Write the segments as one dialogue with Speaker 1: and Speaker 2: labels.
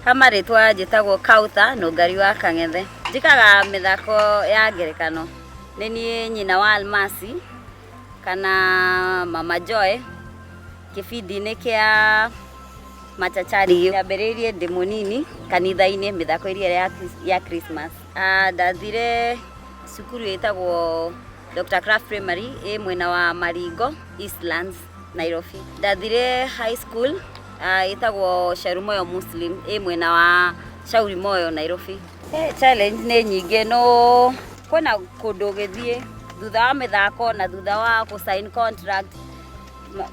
Speaker 1: kamarĩtwa njĩtagwo kauta nũngari wa kang'ethe njĩkaga mĩthako ya ngerekano nĩ niĩ nyina wa almasi kana mama joy kĩbindi-inĩ kĩa machachari yambĩrĩirie ndĩ mũnini kanitha-inĩ mĩthako ĩrĩa ya, Chris- ya christmas Ah, ndathire cukuru ĩtagwo dr craft primary ĩ mwena wa maringo eastlands Nairobi. Ndathire high school uh, itagwo Sharumoyo Muslim ĩ mwena wa Shauri Moyo Nairobi. Eh, challenge nĩ nyingĩ no kwĩna kũndũ ũgĩthiĩ thutha wa mĩthako na thutha wa kũ sign contract ma-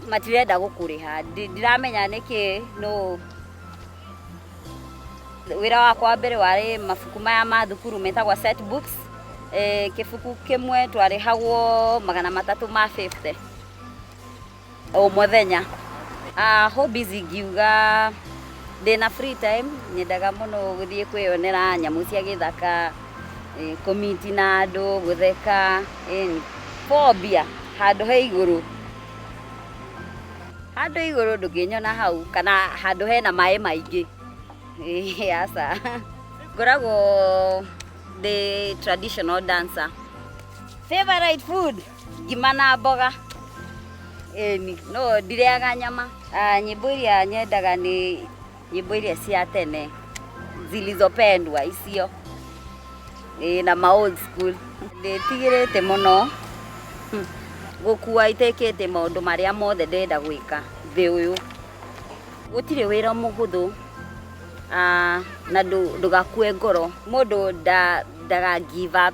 Speaker 1: matirenda gũkũrĩha Ndi- ndiramenya nĩkĩ no wĩra wakwa wa mbere warĩ mabuku maya ma thukuru metagwa set books e, kĩbuku kĩmwe twarĩhagwo magana matatũ ma 50 o mũthenya uh, hobbies ingiuga ndĩna free time nyendaga mũno gũthiĩ kwĩyonera nyamũ cia gĩthaka e, kũmiti na andũ gũtheka e, kũombia handũ he igũrũ handå igå rå ndå ngä nyona hau kana handå hena maä maingä aca ngoragwo ndä traditional dancer favorite food ngima na mboga Ĩni, no ndireaga nyama Ah, nyĩmbo iria nyendaga nĩ nyĩmbo iria cia tene zilizopendwa icio Ĩĩ, na ma old school ndĩtigĩrĩte mũno Hmm. gũkua itekĩte maũndũ marĩa mothe ndĩrenda gwĩka thĩ ũyũ gũtirĩ wĩra mũhũthũ Ah, na ndũ- ndũgakue ngoro mũndũ nda- ndaga give up